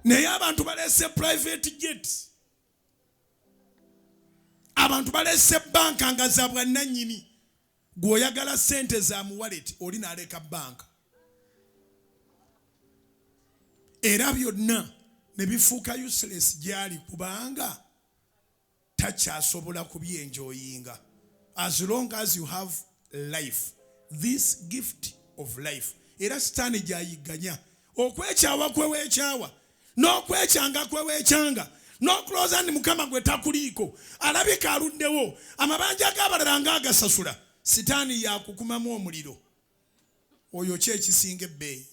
naye abantu baleese private jet abantu baleese banka nga za bwannanyini gweoyagala sente za muwalet oli naleka banka era byonna ne bifuuka useless gyali kubanga takyasobola kubyenjoyinga as long as you have life this gift of life era sitaani gyayigganya okwekyawa kwewekyawa n'okwekyanga kwewekyanga n'okulowooza nti mukama gwe takuliiko alabika aluddewo amabanja g'abalala nga agasasula sitaani yakukumamu omuliro oyo ki ekisinga ebbeeyi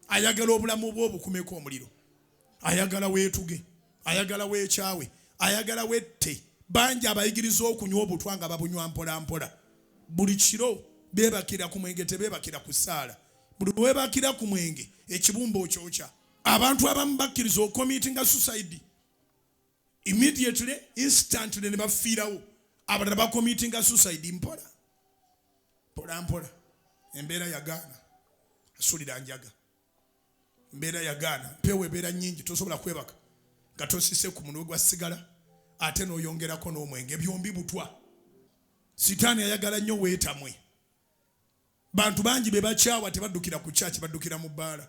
ayagala obulamu bwe obukumeko omuliro ayagala weetuge ayagala weekyawe ayagala wette bangi abayigiriza okunywa obutwa nga babunywa mpolampola buli kiro beebakira ku mwenge tebeebakira ku ssaala buli weebakira ku mwenge ekibumba okyokya abantu abamu bakkiriza okomiitinga susaidi immediately instantly ne bafiirawo abalala bakomitinga suicide mpola mpola mpola embeera yagaana asulira njaga mbeera yagaana mpewo ebeera nyingi tosobola kwebaka nga tosise ku munwe gwa sigala ate noyongerako n'omwenge byombi butwa sitaani ayagala nnyo weetamwe bantu bangi be bakyawa tebaddukira ku kyaki baddukira mu bbaala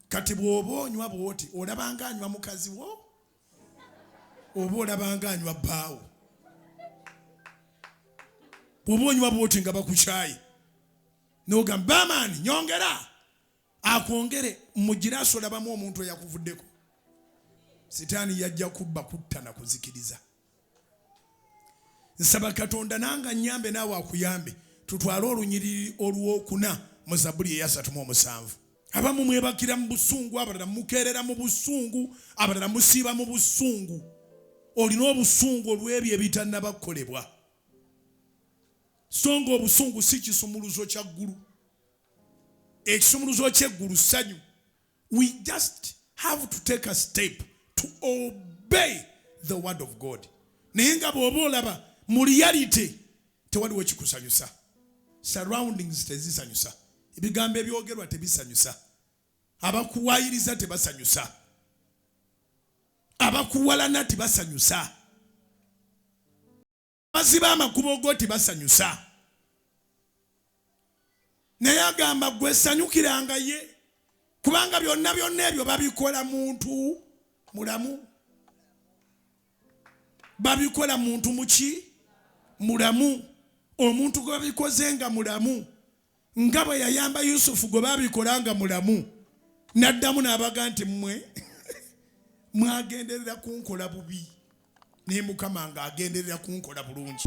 kati bw'oba onywa bwoti olabanga anywa mukazi wo oba olabanga anywa bbaawo bw'oba onywa bwoti nga bakukyaye n'ogamba bamaani nyongera akwongere mugire asolabamu omuntu eyakuvuddeko sitaani yajja kubba kutta na kuzikiriza nsaba katonda nanga nyambe naawe akuyambe tutwale olunyiriri olwokuna mu zabuli eyasatu mu omusanvu abamu mwebakira mu busungu abalala mukeerera mu busungu abalala musiiba mu busungu olina obusungu olw'ebyo ebitannaba kukolebwa so nga obusungu si kisumuluzo kya ggulu ekisumuluzo kyeggulu ssanyu we just have to take a step to obey the word of god naye nga bw'oba olaba mu reality tewaliwo kikusanyusa surroundings tezisanyusa ebigambo ebyogerwa tebisanyusa abakuwayiriza tebasanyusa abakuwalana tebasanyusa baziba amakubo go tebasanyusa naye agamba gwe sanyukiranga ye kubanga byonna byonna ebyo babikola muntu mulamu babikola muntu muki mulamu omuntu gwe babikoze nga mulamu nga bwe yayamba yusufu gwe babikola nga mulamu n'addamu n'abaga nti mmwe mwagenderera kunkola bubi naye mukama ng'agenderera kunkola bulungi